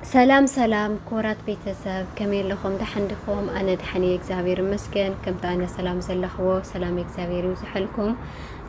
ሰላም ሰላም ክቡራት ቤተሰብ ከመይ ኣለኹም ደሓን ዲኹም? ኣነ ደሓን እየ እግዚኣብሔር ይመስገን። ከምቲ ኣነ ሰላም ዘለኽዎ ሰላም እግዚኣብሔር ይብዝሐልኩም።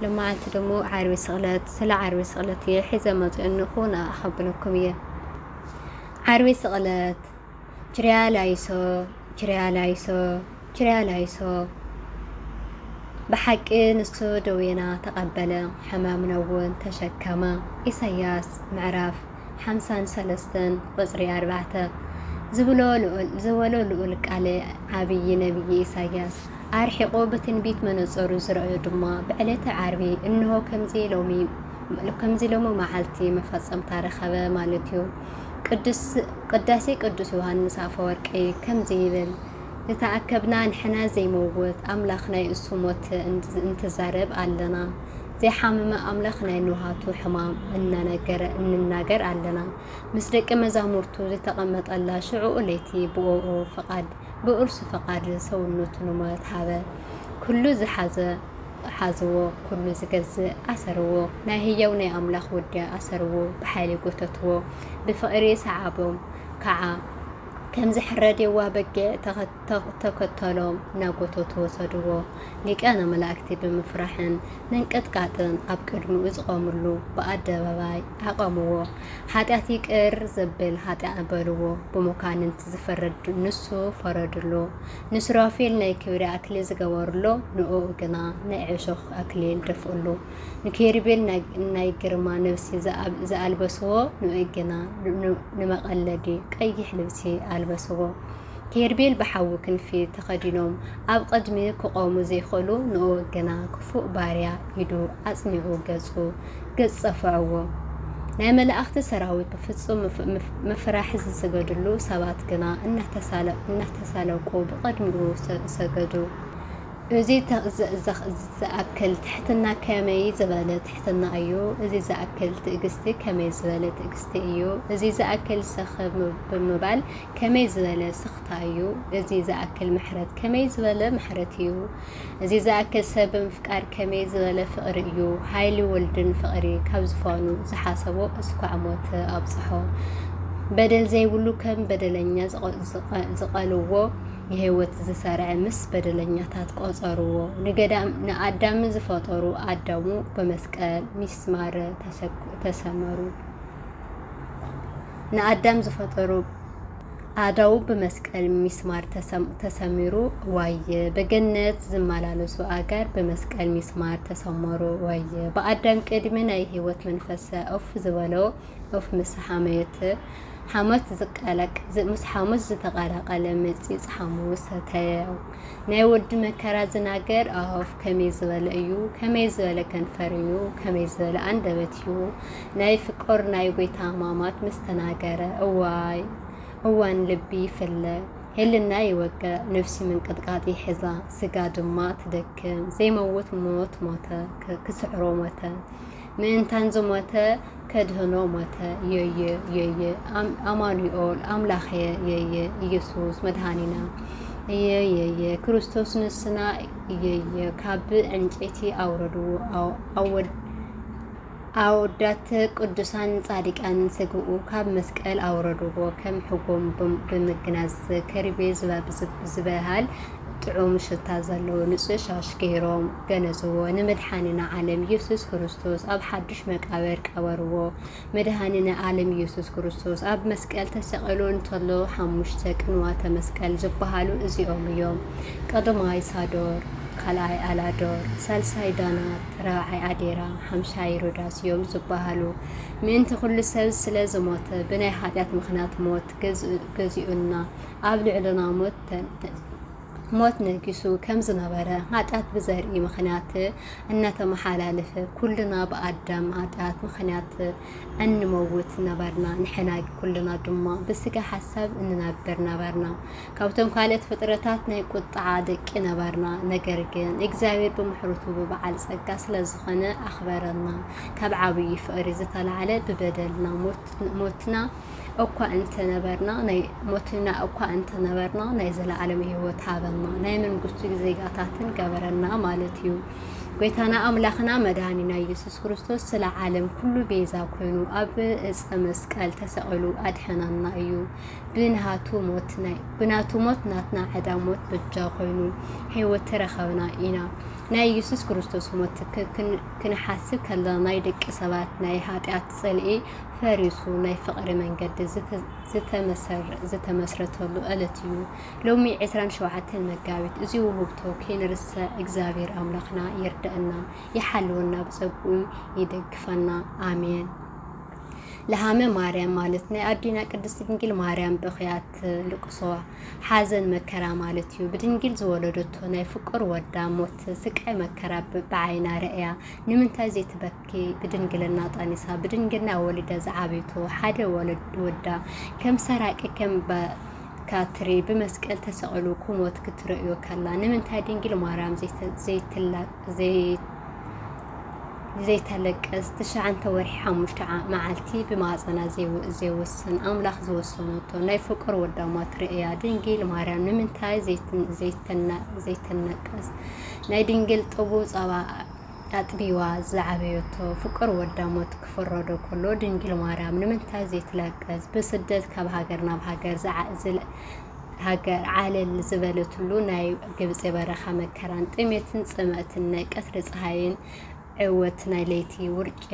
ሎማዓንቲ ደሞ ዓርቢ ስቕለት ስለ ዓርቢ ስቕለት እየ ሒዘ መፅኦ እንኹ ንኣ ኣኸብለኩም እየ። ዓርቢ ስቕለት ችርያ ላይሶ ችርያ ላይሶ ችርያ ላይሶ ብሓቂ ንሱ ደዌና ተቐበለ ሕማምና እውን ተሸከመ ኢሳያስ ምዕራፍ ሓምሳን ሰለስተን ቁጽሪ ኣርባዕተ ዝብሎ ልኡል ዝበሎ ልኡል ቃለ ዓቢይ ነብዪ ኢሳይያስ ኣርሒቑ ብትንቢት መነጸሩ ዝረኣዮ ድማ ብዕለተ ዓርቢ እንሆ ከምዚ ሎሚ ከምዚ ሎሚ መዓልቲ መፈጸምታ ረኸበ ማለት እዩ። ቅዱስ ቅዳሴ ቅዱስ ዮሐንስ ኣፈወርቂ ከምዚ ይብል ዝተኣከብና ንሕና ዘይመውት ኣምላኽ ናይ እሱ ሞት እንትዛረብ ኣለና። ዘይሓመመ ኣምላኽ ናይ ንውሃቱ ሕማም እናነገረ እንናገር ኣለና። ምስ ደቂ መዛሙርቱ ዝተቐመጠላ ሽዑኡ ለይቲ ብእኡ ፍቓድ ብእርሱ ፍቓድ ሰውነቱ ንሞት ሃበ። ኩሉ ዝሓዘ ሓዝዎ፣ ኩሉ ዝገዝእ ኣሰርዎ፣ ናይ ህያው ናይ ኣምላኽ ወዲ ኣሰርዎ፣ ብሓይሊ ጎተትዎ፣ ብፍቕሪ ሰዓቦም፣ ከዓ ከም ዝሕረድ የዋህ በጊዕ ተኸ ተኸተሎም እናጎተቱ ወሰድዎ። ሊቃነ መላእክቲ ብምፍራሕን ምንቅጥቃጥን ኣብ ቅድሚኡ ዝቆምሉ ብኣደባባይ ኣቐምዎ። ሓጢኣት ይቅር ዘብል ሃጥያኣ በልዎ። ብመኳንንቲ ዝፍረድ ንሱ ፈረድሉ። ንሱራፌል ናይ ክብሪ ኣክሊል ዝገበርሉ ንእኡ ግና ናይ ዕሾኽ ኣክሊል ደፍእሉ። ንኪሩቤል ናይ ግርማ ልብሲ ዝኣልበስዎ ንእኡ ግና ንመቐለዲ ቀይሕ ልብሲ ኣልበስዎ። ቴርቤል ብሓዊ ክንፊ ተኸዲኖም ኣብ ቕድሚ ክቖሙ ዘይክእሉ ንእኡ ግና ክፉእ ባርያ ኢዱ ኣጽኒዑ ገጹ ገጽ ጸፍዕዎ ናይ መላእኽቲ ሰራዊት ብፍጹም ምፍራሕ ዝስገድሉ ሰባት ግና እናተሳለቁ ብቕድሚኡ ሰገዱ እዚ ዝኣክል ትሕትና ከመይ ዝበለ ትሕትና እዩ እዚ ዝኣክል ትእግስቲ ከመይ ዝበለ ትእግስቲ እዩ እዚ ዝኣክል ሰኸ ብምባል ከመይ ዝበለ ስኽታ እዩ እዚ ዝኣክል ምሕረት ከመይ ዝበለ ምሕረት እዩ እዚ ዝኣክል ሰብ ምፍቃር ከመይ ዝበለ ፍቕሪ እዩ ሃይሊ ወልድን ፍቕሪ ካብ ዝፋኑ ዝሓሰቦ እስኳዕ ሞት ኣብጽሖ በደል ዘይብሉ ከም በደለኛ ዝቐልዎ ንህይወት ዝሰርዐ ምስ በደለኛታት ቆጸርዎ ንገዳም ንኣዳም ዝፈጠሩ ኣዳሙ በመስቀል ሚስማር ተሰመሩ ንኣዳም ዝፈጠሩ ኣእዳዉ ብመስቀል ሚስማር ተሰሚሩ ዋየ ብገነት ዝመላለሱ ኣእጋር ብመስቀል ሚስማር ተሰመሩ ዋየ ብኣዳም ቅድሚ ናይ ህይወት መንፈሰ ኡፍ ዝበሎ ኡፍ ምስ ሓመዮት ሓሞት ዝቀላቅ ምስ ሓሙስ ዝተቀላቀለ መጺጽ ሓሙ ሰተየ ናይ ወዲ መከራ ዝናገር ኣፍ ከመይ ዝበለ እዩ ከመይ ዝበለ ከንፈር እዩ ከመይ ዝበለ ኣንደበት እዩ ናይ ፍቅር ናይ ጎይታ ሕማማት ምስ ተናገረ እዋይ እዋን ልቢ ይፍለ ሄልና ይወቅዕ ነፍሲ ምንቅጥቃጥ ይሕዛ ስጋ ድማ ትደክም ዘይመውት ሞት ሞተ ክስዕሮ ሞተ ምእንታን ዝሞተ ከድህኖ ሞተ የየ የየ ኣማኑኤል ኣምላኸ የየ ኢየሱስ መድሃኒና እየየየ ክርስቶስ ንስና እየየ ካብ ዕንጨይቲ ኣውረድዎ ኣወድ ኣወዳት ቅዱሳን ጻድቃን ስግኡ ካብ መስቀል ኣውረድዎ ከም ሕጎም ብምግናዝ ከርቤ ዝበሃል ጥዑም ሽታ ዘለዎ ንጹህ ሻሽ ገይሮም ገነዝዎ። ንመድሓኒና ዓለም ኢየሱስ ክርስቶስ ኣብ ሓዱሽ መቃብር ቀበርዎ። መድሃኒነ ዓለም ኢየሱስ ክርስቶስ ኣብ መስቀል ተሰቂሉ እንተሎ ሓሙሽተ ቅንዋተ መስቀል ዝበሃሉ እዚኦም እዮም። ቀዳማይ ሳዶር፣ ካልኣይ ኣላዶር፣ ሳልሳይ ዳናር፣ ራብዓይ ኣዴራ፣ ሓምሻይ ሮዳስ እዮም ዝበሃሉ። ምእንቲ ኩሉ ሰብ ስለ ዝሞተ ብናይ ሓጢኣት ምኽንያት ሞት ገዚኡና ኣብ ልዕልና ሞት ነጊሱ ከም ዝነበረ ሓጢኣት ብዘርኢ ምኽንያት እናተመሓላለፈ ኩልና ብኣዳም ሓጢኣት ምኽንያት እንመውት ነበርና። ንሕና ኩልና ድማ ብስጋ ሓሳብ እንነብር ነበርና። ካብቶም ካልእት ፍጥረታት ናይ ቁጥዓ ደቂ ነበርና ነገር ግን እግዚኣብሔር ብምሕርቱ ብበዓል ጸጋ ስለ ዝኾነ ኣኽበረና ካብ ዓብዪ ፍቕሪ ዝተላዕለ ብበደልና ሞትና እኳ እንተነበርና ናይ ሞትና እኳ እንተነበርና ናይ ዘለዓለም ህይወት ሃበና ናይ መንግስቱ ዜጋታትን ገበረና ማለት እዩ ጎይታና ኣምላኽና መድኃኒና ኢየሱስ ክርስቶስ ስለ ዓለም ኩሉ ቤዛ ኮይኑ ኣብ ዕፀ መስቀል ተሰቒሉ ኣድሐናና እዩ። ብናቱ ሞት ናይ ብናቱ ሞት ናትና ዕዳ ሞት በጃ ኮይኑ ህይወት ተረኸብና ኢና። ናይ ኢየሱስ ክርስቶስ ሞት ክንሓስብ ከለና ናይ ደቂ ሰባት ናይ ኃጢኣት ጽልኢ ፈሪሱ ናይ ፍቕሪ መንገዲ ዝተመስረተሉ ዕለት እዩ። ሎሚ 27 መጋቢት እዚ ውህብቶ ከይንርስዕ እግዚኣብሔር ኣምላኽና ይርደአና፣ ይሓልወና፣ ብጸግኡ ይደግፈና። ኣሜን። ለሃመ ማርያም ማለት ናይ ኣዴና ቅድስቲ ድንግል ማርያም ብኽያት ልቅሶ ሓዘን መከራ ማለት እዩ። ብድንግል ዝወለደቶ ናይ ፍቁር ወዳ ሞት ስቃይ መከራ ብዓይና ረእያ ንምንታይ ዘይትበኪ ብድንግልና ጠኒሳ ብድንግልና ወሊዳ ዝዓበይቶ ሓደ ወዳ ከም ሰራቂ ከም ካትሪ ብመስቀል ተሰቕሉ ክሞት ክትርእዮ ከላ ንምንታይ ድንግል ማርያም ዘይትላ ዘይተለቅስ ትሽዓንተ ወርሒ ሓሙሽተ መዓልቲ ብማህፀና ዘይውስን ኣምላኽ ዝወሰነቶ ናይ ፍቁር ወዳማ ትርእያ ድንግል ማርያም ንምንታይ ዘይተነቀስ ናይ ድንግል ጥቡብ ጸባ ኣጥቢዋ ዝዓበየቶ ፍቅር ወዳ ሞት ክፍረዶ ከሎ ድንግል ማርያም ንምንታይ ዘይትለቅስ ብስደት ካብ ሃገር ናብ ሃገር ሃገር ዓለል ዝበለትሉ ናይ ግብጺ በረኻ መከራን ጥሜትን ጽምእትን ናይ ቀትሪ ጸሃይን ዕወት ናይ ለይቲ ውርጪ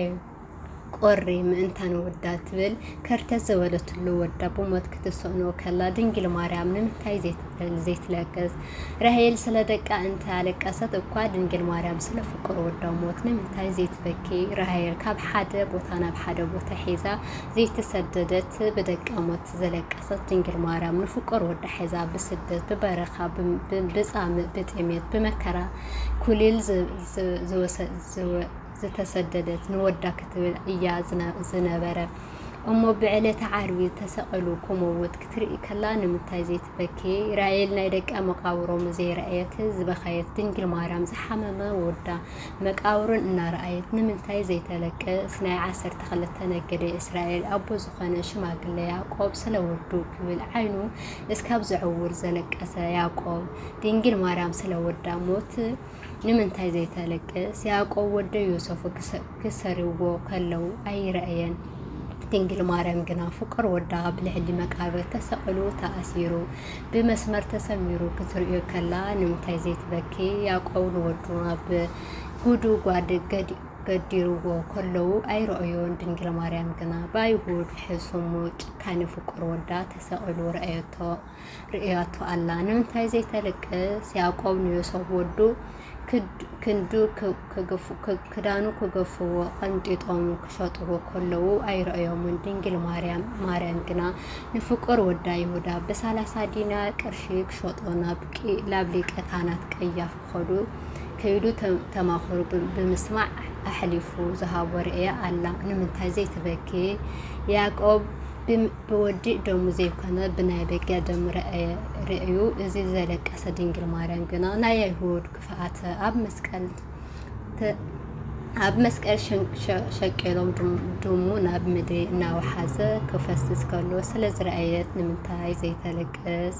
ቁሪ ምእንታን ወዳ ትብል ከርተት ዝበለትሉ ወዳ ብሞት ክትስእኖ ከላ ድንግል ማርያም ንምንታይ ዘይትብል ዘይትለቅስ ራሄል ስለ ደቃ እንተ ኣለቀሰት እኳ ድንግል ማርያም ስለ ፍቁር ወዳ ሞት ንምንታይ ዘይትበኪ ራሄል ካብ ሓደ ቦታ ናብ ሓደ ቦታ ሒዛ ዘይተሰደደት ብደቃ ሞት ዘለቀሰት ድንግል ማርያም ንፍቁር ወዳ ሒዛ ብስደት ብበረኻ ብጻምእ ብጥሜት ብመከራ ኩሊል ዝተሰደደት ንወዳ ክትብል እያ ዝነበረ እሞ ብዕለተ ዓርቢ ተሰቐሉ ክመውት ክትርኢ ከላ ንምንታይ ዘይትበኪ ራኤል ናይ ደቀ መቃብሮም ዘይረኣየት ዝበኸየት ድንግል ማርያም ዝሓመመ ወዳ መቃብሩን እናረኣየት ንምንታይ ዘይተለቅስ ናይ ዓሰርተ ክልተ ነገደ እስራኤል ኣቦ ዝኾነ ሽማግለ ያዕቆብ ስለ ወዱ ክብል ዓይኑ እስካብ ዘዕውር ዘለቀሰ ያዕቆብ ድንግል ማርያም ስለ ወዳ ሞት ንምንታይ ዘይተለቅስ ያዕቆብ ወደ ዮሰፉ ክሰርዎ ከለው ኣይረእየን ድንግል ማርያም ግና ፍቁር ወዳ ብልዕሊ መቃብር ተሰቅሉ ተኣሲሩ ብመስመር ተሰሚሩ ክትርእዮ ከላ ንምንታይ ዘይትበኪ ያቆብ ንወዱ ኣብ ጉዱ ጓድ ገዲ ገዲርዎ ከለዉ ኣይረኦዮን ድንግል ማርያም ግና ብኣይሁድ ሕሱሙ ጭካኔ ፍቁር ወዳ ተሰቂሉ ረኣየቶ ርእያቶ ኣላ ንምንታይ ዘይተልቅስ ያዕቆብ ንዮሶፍ ወዱ ክንዱ ክዳኑ ክገፍዎ ቐንጢጦም ክሸጥዎ ከለዉ ኣይረኣዮምን። ድንግል ማርያም ግና ንፍቁር ወዳ ይሁዳ ብሳላሳ ዲናር ቅርሺ ክሸጦ ናብ ሊቀ ካህናት ቀያፍ ክኸዱ ከይዱ ተማኽሩ ብምስማዕ ኣሕሊፉ ዝሃቦ ርእያ ኣላ። ንምንታይ ዘይትበኪ? ያዕቆብ ብወዲእ ደሙ ዘይኮነ ብናይ በጊዕ ደም ርእዩ እዚ ዘለቀሰ ድንግል ማርያም ግና ናይ ኣይሁድ ክፍኣተ ኣብ መስቀል ኣብ መስቀል ሸቂሎም ድሙ ናብ ምድሪ እናወሓዘ ክፈስስ ከሎ ስለ ዝረኣየት ንምንታይ ዘይተለቅስ?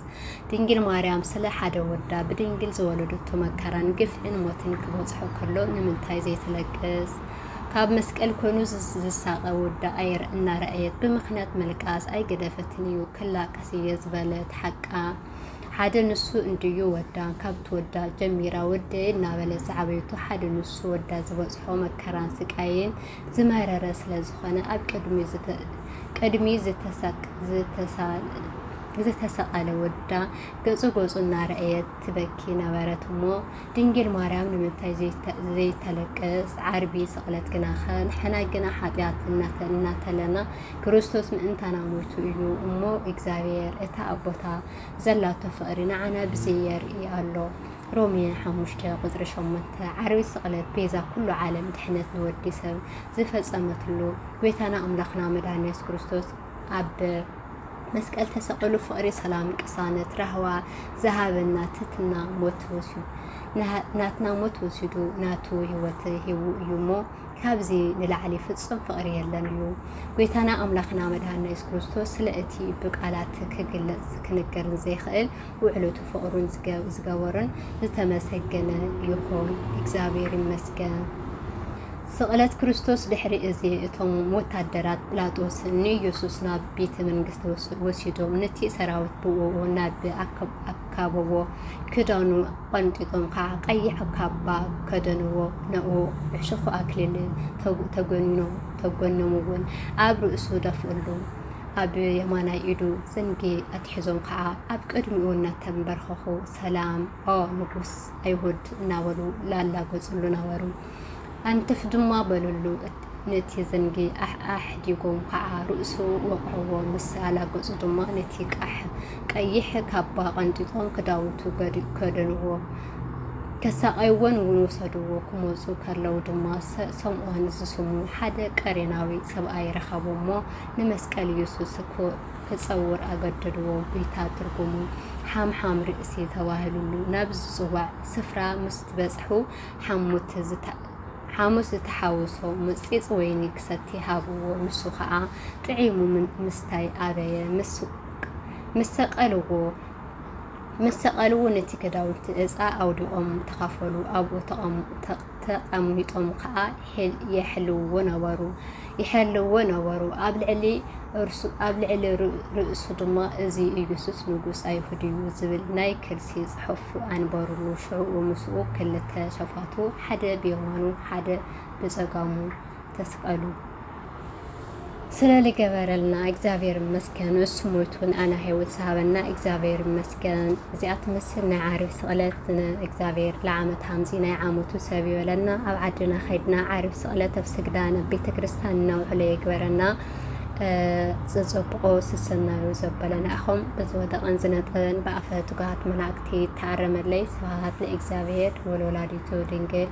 ድንግል ማርያም ስለ ሓደ ወዳ ብድንግል ዝወለደቶ መከራን ግፍዕን ሞትን ክበፅሖ ከሎ ንምንታይ ዘይትለቅስ? ካብ መስቀል ኮይኑ ዝሳቐ ወዳ ኣየር እናረኣየት ብምኽንያት ምልቃስ ኣይገደፈትን እዩ ክላቀስ እየ ዝበለት ሓቃ ሓደ ንሱ እንድዩ ወዳ ካብ ትወዳ ጀሚራ ወደ እናበለ ዝዓበይቱ ሓደ ንሱ ወዳ ዝበፅሖ መከራን ስቃይን ዝመረረ ስለ ዝኾነ ኣብ ቅድሚ ዝተሳቀለ ወዳ ገፁ ገፁ እናረኣየት ትበኪ ነበረት እሞ ድንግል ማርያም ንምንታይ ዘይተለቅስ ዓርቢ ስቕለት ግናኸ ንሕና ግና ሓጢኣት እናተለና ክርስቶስ ምእንታና ሞይቱ እዩ እሞ እግዚኣብሔር እታ ኣቦታ ዘላቶ ፍቕሪ ንዓና ብዘይ የርኢ ኣሎ ሮሜ ሓሙሽተ ቁፅሪ ሸሞንተ ዓርቢ ስቕለት ቤዛ ኩሉ ዓለም ድሕነት ንወዲ ሰብ ዝፈፀመትሉ ጎይታና ኣምላኽና መድሃኒ የሱስ ክርስቶስ ኣብ መስቀል ተሰቅሉ ፍቅሪ ሰላም ቅሳነት ራህዋ ዝሃበና ትህትና ሞት ተወሲዱ ናትና ሞት ወሲዱ ናቱ ህይወት ሂቡ እዩ እሞ ካብዚ ንላዕሊ ፍጹም ፍቅሪ የለን እዩ ጎይታና ኣምላኽና መድሃና የሱስ ክርስቶስ ስለ እቲ ብቃላት ክግለጽ ክንገርን ዘይክእል ውዕለቱ ፍቅሩን ዝገበሮን ዝተመሰገነ ይኹን እግዚኣብሔር ይመስገን። ስቕለት ክርስቶስ ድሕሪ እዚ እቶም ወታደራት ጲላጦስ ንኢየሱስ ናብ ቤተ መንግስቲ ወሲዶም ነቲ ሰራዊት ብእኡ ናብ ኣካበዎ ክዳኑ ቐንጢጦም ከዓ ቀይሕ ካባ ከደንዎ ንኡ ዕሾኽ ኣክሊል ተጎኖምዎን ኣብ ርእሱ ደፍእሉ። ኣብ የማናይ ኢዱ ዘንጊ ኣትሒዞም ከዓ ኣብ ቅድሚኡ እናተንበርኸኹ ሰላም ኦ ንጉስ ኣይሁድ እናበሉ ላላገፅሉ ነበሩ። ኣንትፍ ድማ በልሉ፣ ነቲ ዘንጊ ኣሕዲጎም ከዓ ርእሱ ወቕዕዎ፣ ምስ ኣላገፁ ድማ ነቲ ቀይሕ ካባ ቐንጢጦም ክዳውንቱ ከደንዎ። ከሳቐይዎን እውን ወሰድዎ። ክመፁ ከለዉ ድማ ሰምኦን ዝስሙ ሓደ ቀሬናዊ ሰብኣይ ረኸቡ እሞ ንመስቀል ኢየሱስ ክፀውር ኣገደድዎ። ጒይታ ትርጉሙ ሓምሓም ርእሲ ተባሂሉሉ። ናብ ዝፅዋዕ ስፍራ ምስ በፅሑ ሓሙስ ዝተሓወሶ ምፅፅ ወይኒ ክሰቲ ሃብዎ። ንሱ ከዓ ጥዒሙ ምስታይ ኣበየ። ምስ ሰቀልዎ ምስ ሰቀል'ውን እቲ ክዳውንቲ ዕጻ ኣውዲቖም ተኻፈሉ። ኣብኡ ተቐሚጦም ከኣ የሕልውዎ ነበሩ። ኣብ ልዕሊ ርእሱ ድማ እዚ ኢየሱስ ንጉስ ኣይሁድ'ዩ ዝብል ናይ ከልሲ ጽሑፍ ኣንበሩሉ። ሽዑ ምስኡ ክልተ ሸፋቱ፣ ሓደ ብየማኑ ሓደ ብጸጋሙ፣ ተስቀሉ ስለ ልገበረልና እግዚኣብሔር ይመስገን እሱ ሞይቱ ንኣና ሂወት ዝሃበና እግዚኣብሔር ይመስገን እዚኣ ትመስል ናይ ዓርቢ ስቕለት እግዚኣብሔር ለዓመት ሃምዚ ናይ ዓመቱ ሰብ ይበለና ኣብ ዓድና ከይድና ዓርቢ ስቕለት ኣብ ስግዳን ኣብ ቤተ ክርስቲያን እናውዕሎ የግበረና ዝፀብቆ ስሰናዩ ዘበለና ኢኹም ብዝወደቐን ዝነጠበን ብኣፈ ትጉሃት መላእክቲ ተኣረመለይ ስብሃት ንእግዚኣብሔር ወለወላዲቱ ድንግል